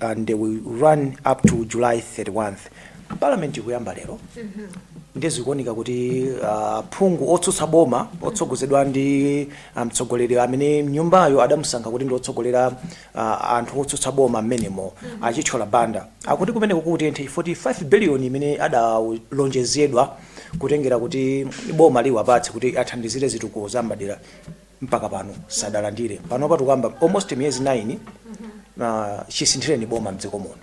and they will run up to July 31th. Parliament ikuyamba lero nde zikuoneka kuti uh, aphungu otsutsa boma otsogozedwa ndi uh, mtsogoleri amene mnyumbayo adamusankha kuti ndi otsogolera uh, anthu otsutsa boma mmenemo a Chithyola Banda akuti kumeneko kutenthe 5 billion imene adalonjezedwa kutengera kuti boma liwapatse kuti athandizire zitukuko za m'madera mpaka pano sadalandire panopa tikukamba almost miyezi 9 chisinthireni boma mdziko muno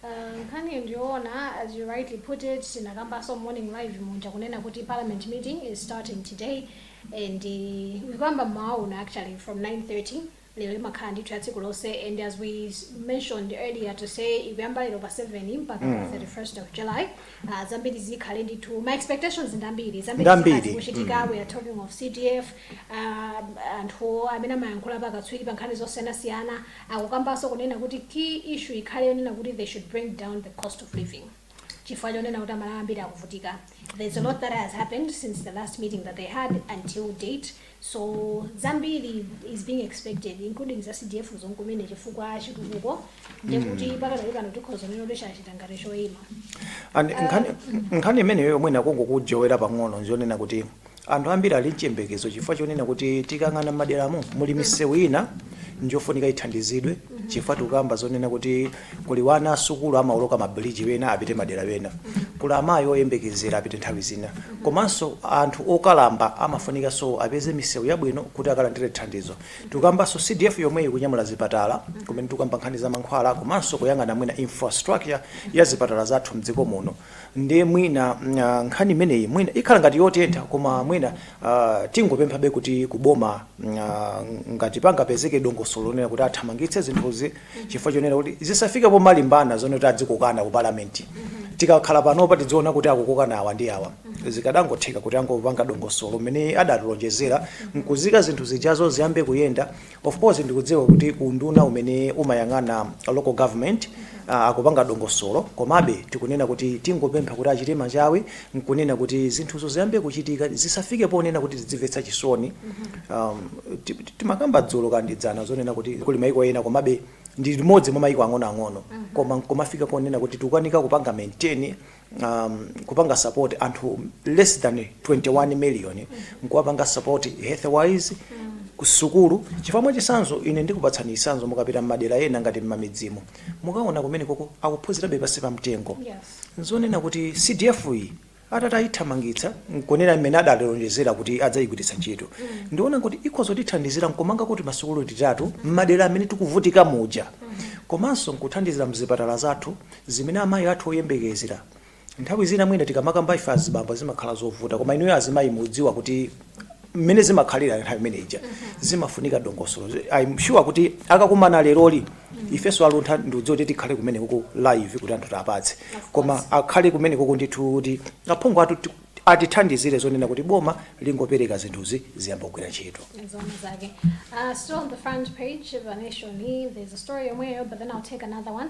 Uh, nkhani ndiyoona as you rightly put it tinakambaso morning live muja kunena kuti parliament meeting is starting today and uh, ikuyamba mmawauna actually from 9:30 lero imakhala ndithu ya tsiku lonse and as we s- mentioned earlier to say ikuyamba lero pa 7 mpaka pa 31st of july uh, zambiri zikhale ndithu ma expectations ngambiri zambiri Ngambiri. zikhala zikuchitika we are talking of cdf um, anthu amene amayankhula pakatswiri pa nkhani zosiyanasiyana akukambanso kunena kuti key issue ikhale yonena kuti they should bring down the cost of living chifukwa chonena kuti amalawi ambiri akuvutika there's a lot that has happened since the last meeting that they had until date so zambiri is being expected including za cdf zomwezo kumene chifukwa chitukuko ndekuti mm. pakadali pano tikhoza kunena kuti chachita ngati choyima And nkhani- nkhani imeneyo yomwe ndikungokujowera pang'ono njonena kuti anthu ambiri ali mchiyembekezo chifukwa chonena kuti tikayang'ana m'maderamo muli misewu ina njofunika ithandizidwe chifukwa tikukamba zonena kuti kuli wana asukulu amaoloka ma bridge wena apite madera ena, kuli amayi oyembekezera apite nthawi zina komanso anthu okalamba amafunikanso apeze misewu yabwino kuti akalandire thandizo. Tikukambanso CDF yomweyi ikunyamula zipatala kumene tikukamba nkhani za mankhwala komanso kuyang'ana mwina infrastructure ya zipatala zathu m'dziko muno ndiye mwina nkhani imeneyi mwina ikhala ngati yotentha koma mwina tingopemphabe kuti kuboma ngati pangapezeke dongosolo lonena kuti athamangitse zinthuzi. chifukwa chonena kuti zisafike pomalimbana zonena kuti adzikokana ku parliament tikakhala panopa tidziona kuti akukokana awa ndi awa zikadangotheka kuti angopanga dongosolo mmene adatilonjezera nkuyika zinthu zijazo ziyambe kuyenda of course ndikudziwa kuti unduna umene umayang'ana local government ah, akupanga dongosolo komabe tikunena kuti tingopempha kuti achite machawi n'kunena kuti zinthuzo ziyambe kuchitika, zisafike ponena kuti tidzimvetsa chisoni. um ti- ti- Timakamba dzulo kaya ndi dzana zonena kuti kuli maiko ena koma Malawi ndi limodzi mwa maiko ang'onoang'ono koma nkumafika ponena kuti tikukanika kupanga maintain um, kupanga support anthu less than 21 million nkuwapanga support health wise kusukulu chifukwa mwachisanzo ine ndikupatsani chisanzo mukapita m'madera ena ngati m'mamidzimo mukaona kumenekoko akuphunzirabe pansi pa mtengo Yes. N'zonena kuti CDF iyi atati ayithamangitsa n'kunena mmene adalonjezera kuti adzayigwiritsa ntchito, ndiona kuti ikhoza kutithandizira n'kumangako timasukulu titatu m'madera amene tikuvutika muja komanso n'kuthandizira m'zipatala zathu zimene amayi athu oyembekezera. Nthawi zina mwina tikamakamba ife azibambo zimakhala zovuta koma inuyo azimayi mudziwa kuti mmene zimakhalira nthawi imene ija zimafunika dongosolo i'm sure kuti akakumana leroli ifenso a Luntha ndikudziwa kuti tikhale kumene kuko live kuti anthu tiwapatse koma akhale kumene kuko ndithu kuti aphungu athu ti- atithandizire zonena kuti boma lingopereka zinthuzi ziyamba kugwira ntchito Zone Zage. Uh, still on the front page of the Nation, there's a story somewhere, but then I'll take another one.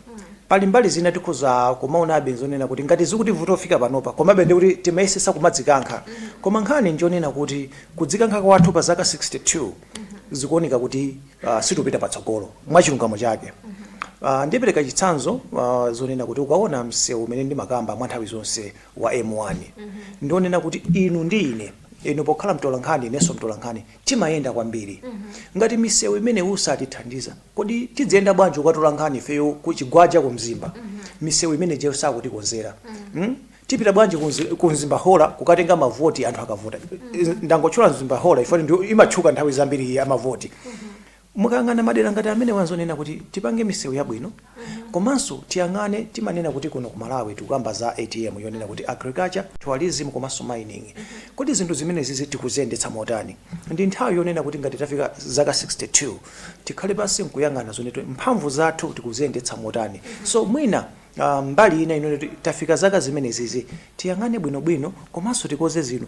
Pali mbali zina tikhoza kumaonabe nzonena kuti ngati zikutivuta kufika panopa komabe ndiye kuti timayesetsa kumadzikankha. Koma nkhani njonena kuti kudzikankha kwathu pa zaka 62 zikuoneka kuti sitikupita patsogolo mwachilungamo chake. Ndipereka chitsanzo zonena kuti ukaona msewu umene ndimakamba mwa nthawi zonse wa M1 ndi wonena kuti inu ndi ine, inu pokhala mtolankhani inenso mtolankhani, Timayenda kwambiri. Ngati misewu imeneyi satithandiza, kodi tidziyenda bwanji kukatola nkhani ifeyo ku Chigwaja ku Mzimba? Misewu imene ijayo sakutikonzera. Tipita bwanji ku Mzimba Hora kukatenga mavoti anthu akavota? Ndangotchula Mzimba Hora chifukwa ndiyo imatchuka nthawi zambiri ya mavoti. Mukayang'ana madera ngati amenewa nzonena kuti tipange misewu yabwino komanso tiyang'ane timanena kuti kuno ku Malawi tikukamba za ATM yonena kuti Agriculture, Tourism komanso Mining. Kodi zinthu zimenezizi tikuziyendetsa motani? Ndi nthawi yonena kuti ngati tafika zaka 62 tikhale pansi nkuyang'ana zonena kuti mphamvu zathu tikuziyendetsa motani. So mwina mbali ina yonena kuti tafika zaka zimenezizi tiyang'ane bwinobwino komanso tikonze zinthu.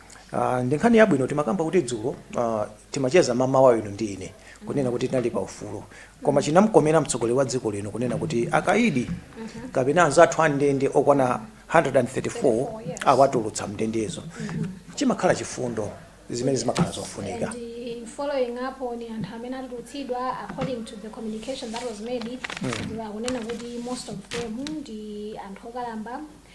Ah, ndi nkhani yabwino timakamba kuti dzulo ah, timacheza mamawa inu ndi ine kunena kuti tinali pa ufulu koma chinamkomera mtsogoleri wa dziko lino kunena kuti akaidi kapena anzathu a m'ndende okwana 134 awatulutsa mndendezo chimakhala chifundo zimene zimakhala zofunika And in following up on anthu amene atulutsidwa according to the communication that was made mm. akunena kuti most of them ndi anthu okalamba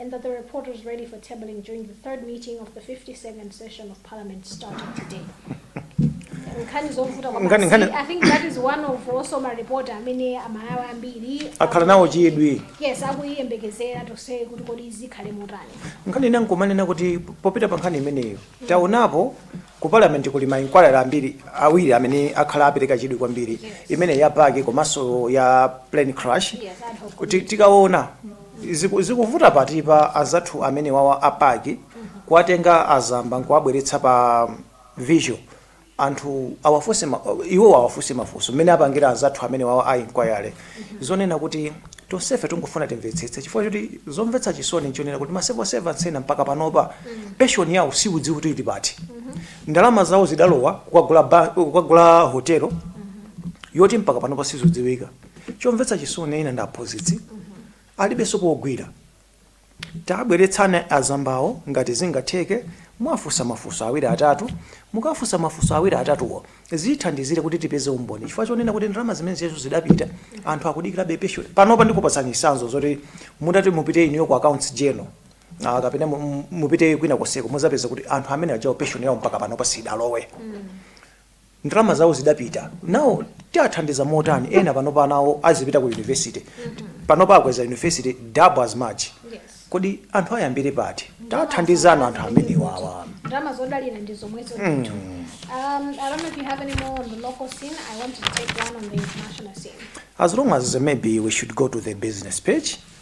and that the report was ready for tabling during the third meeting of the 52nd session of Parliament starting today. Nkhani zovuta kwa Nkhani- basi. nkhani- I think that is one of also my report amene aMalawi ambiri akhala nawo chidwi yes akuyiyembekezera tonse kuti kodi zikhale motani nkhani ina nkumanena kuti popita pa nkhani imeneyo taonapo Ku Parliament kuli ma inquiry ambiri, awiri amene akhala apereka chidwi kwambiri, imeneyi ya PAC komanso ya plane crash. Kuti tikaona ziku, zikuvuta pati pa anzathu amenewawa a PAC kuwatenga a Zamba nkuwabweretsa pa virtual anthu awafunse ma, iwowo awafunse mafunso mmene apangira anzathu amenewawa a inquiry. zonena kuti tonsefe tingofuna timvetsetse chifukwa choti zomvetsa chisoni nchonena kuti ma civil servants ena mpaka panopa pension yawo siudziwa kuti ili pati ndalama zawo zidalowa kukagula hotelo yoti mpaka panopa sizodziwika chomvetsa chisoni ena ndi aphunzitsi alibenso pogwira Tabweretsana azambawo ngati zingatheke, mwafunsa mafunso awiri atatu. Mukafunsa mafunso awiri atatuwo zithandizire kuti tipeze umboni chifukwa chonena kuti ndalama zimenezo zidapita, anthu akudikirabe pension. Panopa ndikupatsani chitsanzo zoti mutati mupite inuyo ku accounts general kapena mupite kwina konseko muzapeza kuti anthu amene ajawo pension yawo mpaka panopa sidalowe. ndalama zawo zidapita nawo tiathandiza motani ena panopa anawo azipita ku university panopa akweza university double as much kodi anthu ayambire pati tathandizani anthu amenewawa ndalama zodalira ndi zomwezo ndithu um, i don't know if you have any more on the local scene i want to take one on the international scene As long as maybe we should go to the business page,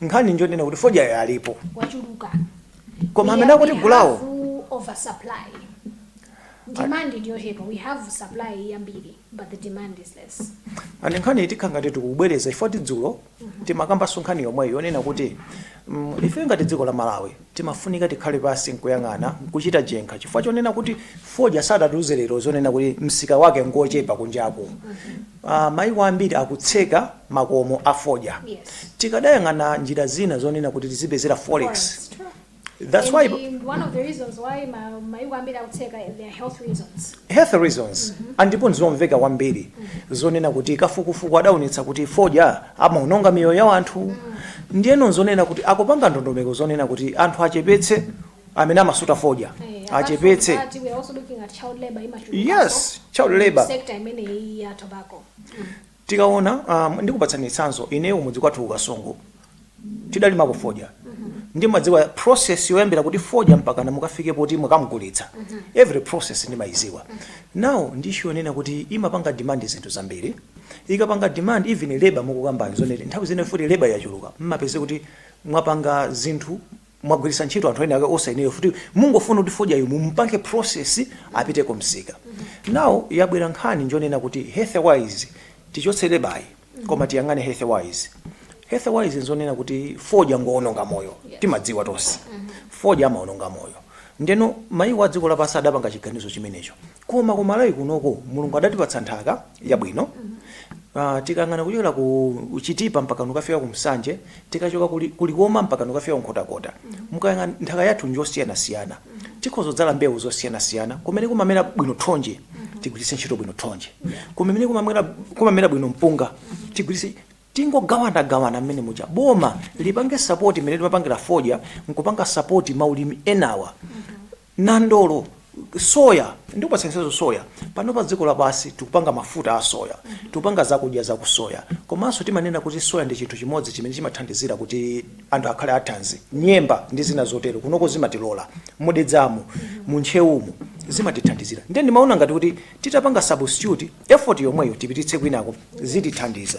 nkhani njonena kuti fodyayo alipo wachuluka koma amene akutigulawo oversupply demand ndiyochepa we have supply yambiri but the demand is less Ane nkhani ikukhala ngati tikubwereza chifukwa choti dzulo timakambanso nkhani yomweyo yonena kuti mm, ife ngati dziko la malawi Timafunika tikhale pansi n'kuyang'ana, n'kuchita chenkha chifukwa chonena kuti fodya. Sadatiuze lero zonena kuti msika wake n'ngwochepa kunjaku. Mayiko ambiri akutseka makomo a fodya. Tikadayang'ana njira zina zonena kuti tizipezera forex that's why health reasons and ndipo n'zomveka kwambiri zonena kuti kafukufuku adaonetsa kuti fodya. amaononga miyoyo ya wanthu ndiyeno nzonena kuti akupanga ndondomeko zonena kuti anthu achepetse amene amasuta fodya achepetse yes child labor sekta imeneyi ya tobacco tikaona um, ndikupatsani chitsanzo ineyo mudzi kwathu ku Kasungu tidalimako fodya ndimadziwa process yoyambira kuti fodya mpakana mukafike poti mukamgulitsa every process ndimayiziwa now ndi issue yonena kuti imapanga demand zinthu zambiri ikapanga demand even labour mukukambayo zonena kuti nthawi zina ifuti labour yachuluka mmapeze kuti mwapanga zinthu mwagwiritsa ntchito anthu ena ake osayenera ifuti mungofuna kuti fodyayo mumpange process apite ku msika now yabwera nkhani njonena kuti health wise tichotse labour koma tiyang'ane health wise health wise nzonena kuti fodya ngoononga moyo timadziwa tonse fodya amaononga moyo ndeno mayiko a dziko lapansi adapanga chiganizo chimenecho Koma ku Malawi kunoko Mulungu adatipatsa nthaka yabwino uh, tikayang'ana kuchokera ku Chitipa mpaka kukafika ku Nsanje, tikachoka ku Li, ku Likoma mpaka kukafika ku Nkhotakota. Mukayang'ana nthaka yathu njosiyanasiyana, tikhoza kudzala mbewu zosiyanasiyana. Kumene kumamera bwino thonje tigwiritse ntchito bwino thonje, kumene kumamera, kumamera bwino mpunga tigwiritse tingogawana gawana mmene muja boma lipange sapoti imene limapangira fodya nkupanga sapoti ma ulimi enawa nandolo, soya ndikupatsa chitsanzo soya pano pa dziko lapansi tikupanga mafuta a soya tikupanga zakudya za ku soya komanso timanena kuti soya ndi chinthu chimodzi chimene chimathandizira kuti anthu akhale athanzi nyemba ndi zina zotero kunoko zimatilola mu Dedzamu mu Ntcheumu zimatithandizira nde ndimaona ngati kuti titapanga substitute effort yomweyo tipititse kwinako zitithandiza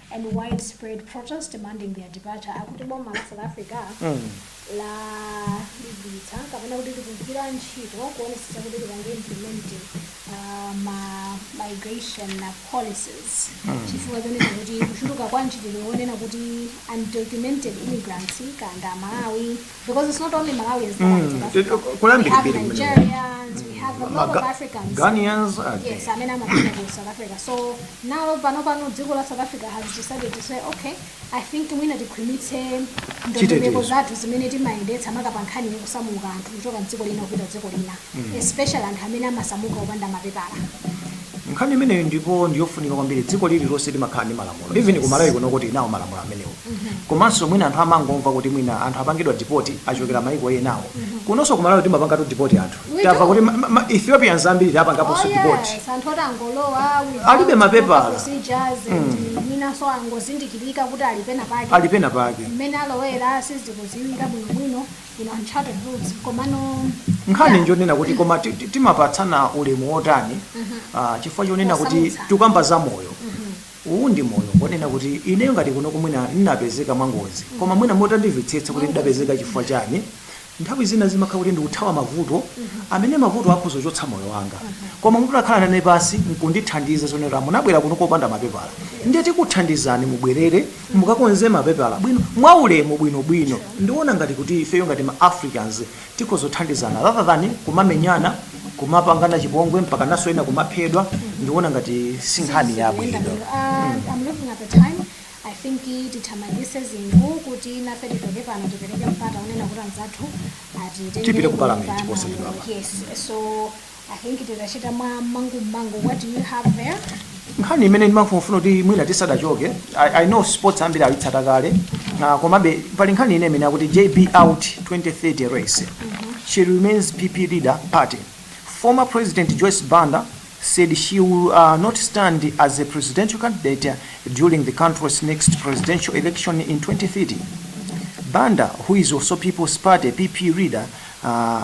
and widespread protests demanding their departure akuti boma la south africa lalimbitsa kapena kuti likugwira ntchito kuonetsetsa kuti lipange implement uh, ma migration policies chifukwa chonena kuti kuchuluka kwa ntchito yonena kuti undocumented immigrants kanda malawi Because it's not only Malawians that are in South Africa. Mm, kuli We have mbiri mbiri kumene. Nigerians, we have a lot of Maga- Africans. Ghanaians, uh, Yes, amene amapita ku South Africa. So now panopano dziko la South Africa has decided to say okay, I think mwina tikhwimitse ndondomeko Chitetezo. zathu zimene timayendetsa maka pa nkhani ya kusamuka anthu kuchoka mdziko lina kupita dziko lina especially anthu amene amasamuka opanda mapepala Nkhani imeneyo ndipo ndiyofunika kwambiri dziko lililonse limakhala ndi malamulo even ku Malawi kuno tili nawo malamulo amenewo komanso mwina anthu amangomva kuti mwina anthu apangidwa deport achokera maiko enawo kunonso ku Malawi timapangatu deport anthu We tamva do. kuti ma, ma, ma Ethiopians ambiri Oh tapangaponso deport yes, anthu oti angolowa without Alibe proper mapepala. procedures and mwinanso angozindikirika kuti ali pena pake ali pena pake mmene alowera sizikudziwika bwinobwino inu uncharted routes komano nkhani yeah. njonena kuti koma timapatsana ulemu wotani mm -hmm. uh, chifukwa chonena kuti tikamba za moyo mm -hmm. uwu ndi moyo wonena kuti ineyo ngati kunoku mwina ndinapezeka mwangozi mm -hmm. koma mwina mutandimvetsetsa kuti ndidapezeka chifukwa chani nthawi zina zimakhala kuti ndikuthawa mavuto mm -hmm. amene mavuto akhoza kuchotsa moyo wanga mm -hmm. koma mutakhala nane pansi nkundithandiza zonena munabwera kuno kopanda mapepala ndiye tikuthandizani mubwerere Mukakonze mapepala bwino, mwaulemu, bwinobwino. Ndikuona ngati kuti ifeyo ngati ma Africans tikhoza kuthandizana rather than kumamenyana, kumapangana chipongwe mpakananso ena kumaphedwa, ndikuona ngati si nkhani Sizinthu zoyenda yabwino. bwino. Ah, I'm looking at the time. I think tithamangitse zinthu kuti nafe tichoke pano tipereke mpata wonena kuti anzathu atitengere Tipite ku kunyumba parliament ya posachedwapa. malamulo. Yes. So I think titachita mwa mangu mangu. What do you have there? nkhani imene ndimafuna kuti mwina tisadachoke I, i know sports ambiri ayitsata kale na komabe pali nkhani ine imene akuti jb out 2030 race she remains pp leader party former president joyce banda said she will uh, not stand as a presidential candidate during the country's next presidential election in 2030 banda who is also people's party pp leader uh,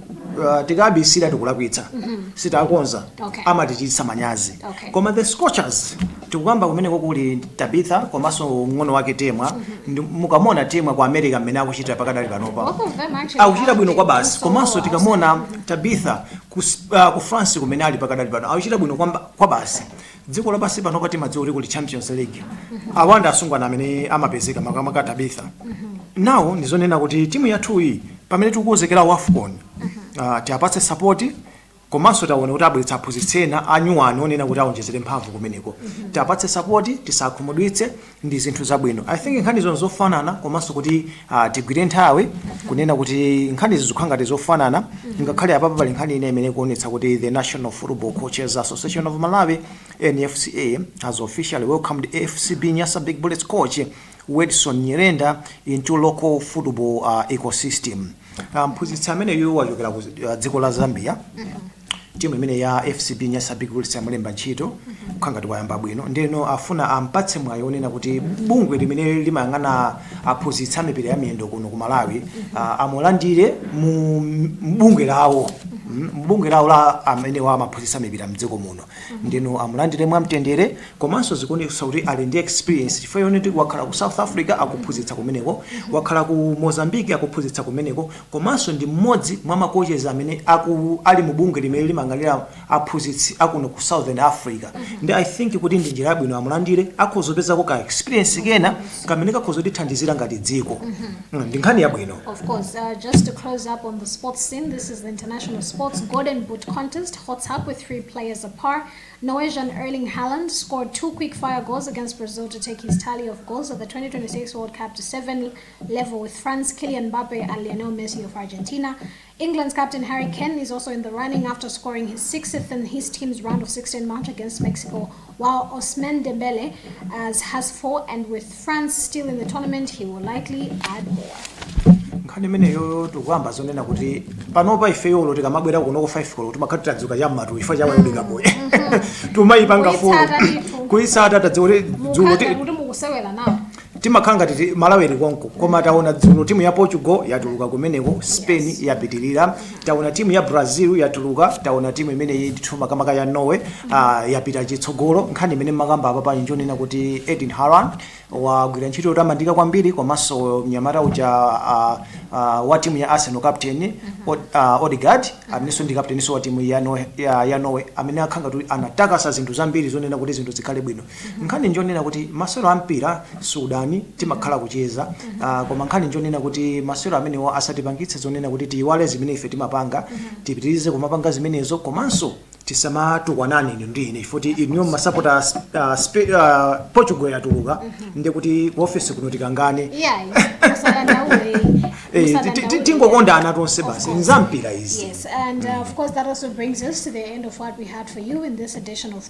uh, tikabisira tikulakwitsa sitakonza Okay. amatichititsa manyazi Okay. koma the scorchers tikukamba kumeneko kuli tabitha komanso mng'ono wake temwa Ndi- mukamuona temwa ku america mmene akuchita pakadali panopa Both of them actually akuchita bwino kwabasi komanso tikamuona tabitha ku, uh, ku france kumene ali pakadali pano akuchita bwino kwamba- kwabasi dziko lapansi panopa timadziwa kuti kuli champions league awa ndi asungwana amene amapezeka makamaka tabitha nawo ndizonena kuti timu yathu iyi pamene tikukonzekera wafcon uh, tiapatse sapoti komanso taona kuti abweretsa aphunzitsi ena anyuwani onena kuti aonjezere mphamvu kumeneko tiapatse sapoti tisakhumudwitse ndi zinthu zabwino i think nkhanizo ndi zofanana komanso kuti ah, tigwire nthawi kunena kuti nkhanizi zikukhala ngati zofanana ngakhale apapa pali nkhani ina imene ikuonetsa kuti the national football coaches association of malawi nfca has officially welcomed fcb nyasa big bullets coach wedson nyirenda into local football ah, ecosystem Ah, mphunzitsi ameneyu wachokera ku ah, dziko la zambia timu imene ya fcb nyasa big bullets yamulemba ntchito akukhala ngati wayamba bwino ndeno afuna ampatse mwayi onena kuti bungwe limene limayang'ana aphunzitsi a mipira ya miyendo kuno ku malawi ah, amulandire mu mu bungwe lawo Mm, mu bungwe lawo la amenewa amaphunzitsa mipira mdziko muno ndeno amulandire mwamtendere komanso zikuonetsa kuti ali ndi experience chifukwa yoonati wakhala ku south africa akuphunzitsa kumeneko wakhala ku mozambique akuphunzitsa kumeneko komanso ndi mmodzi mwa makochezi amene akulu ali mu bungwe limene limayang'anira aphunzitsi akuno ku southern africa ndi i think kuti ndi njira yabwino amulandire akhoza kupezako ka experience kena kamene kakhoza kutithandizira ngati dziko Mm, ndi nkhani yabwino Of course, uh, just to close up on the sports scene, this is the International Sports Golden Boot Contest. Hots up with three players apart. Norwegian Erling Haaland scored two quick fire goals against Brazil to take his tally of goals at the 2026 World Cup to seven. level with France, Kylian Mbappe and Lionel Messi of Argentina. England's captain Harry Kane is also in the running after scoring his sixth in his team's round of 16 match against Mexico, while Ousmane Dembele has four, and with France still in the tournament, he will likely add more. nkhani imeneyo tikukamba zonena kuti panopa ifeyo ulo tikamabwera kuno ku 5 koloko timakhala tadzuka cham'matu ifa chawayodoka boye timayipanga folo Kuitsata ndithu. kuitsata tidziwe kuti dzulo ti- Mukhala ngati mukusewera nawo. timakhala ngati ti- malawi ili konko koma taona dzulo timu ya portugal yatuluka kumeneko spain yapitirira taona timu ya brazil yatuluka taona timu imene ndithu makamaka ya norway uh, yapita chitsogolo nkhani imene mwakamba apapa ndi yonena kuti Erling Haaland wagwira ntchito yotamandika kwambiri komanso mnyamata uja uh, uh, wa timu ya arsenal captain Od, uh, odegaard amenenso ndi captainso wa timu ya, Norway- ya, ya norway amene akhala ngati anatakasa zinthu zambiri zonena kuti zinthu zikhale bwino Nkhani njonena kuti masewero a mpira siudani timakhala kucheza uh, koma nkhani njonena kuti masewero amenewo asatipangitse zonena kuti tiyiwale zimene ife timapanga tipitirize kumapanga zimenezo komanso tisamatukwanane inu ndi ine chifoti inuyo mumasapota uh, spe- uh, portugal yatuluka ndi kuti ku ofesi kuno tikangane iyayi usadandaule Eh, ti- ti- ti- usadandaule. tingokondana tonse Of basi course. nzampira izi Yes, and uh, of course, that also brings us to the end of what we had for you in this edition of